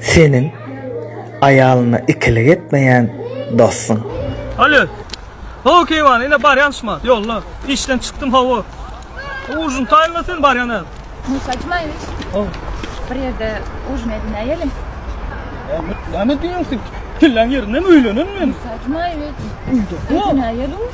Seniň aýalyna ikilik etmeýän dostuň. Alo. Hawa Keýwan, ine barýan şma, ýolda. Işden çykdym, hawa. Ujin taýynla sen barýan äl. Musa Jumaýewiç. Hawa. Bir ýerde ujin edinäýelim. Näme diýýäň sen? Kelläň ýerindemi öýlenen men? Musa Jumaýewiç. Öýde. Edinäýeli uj.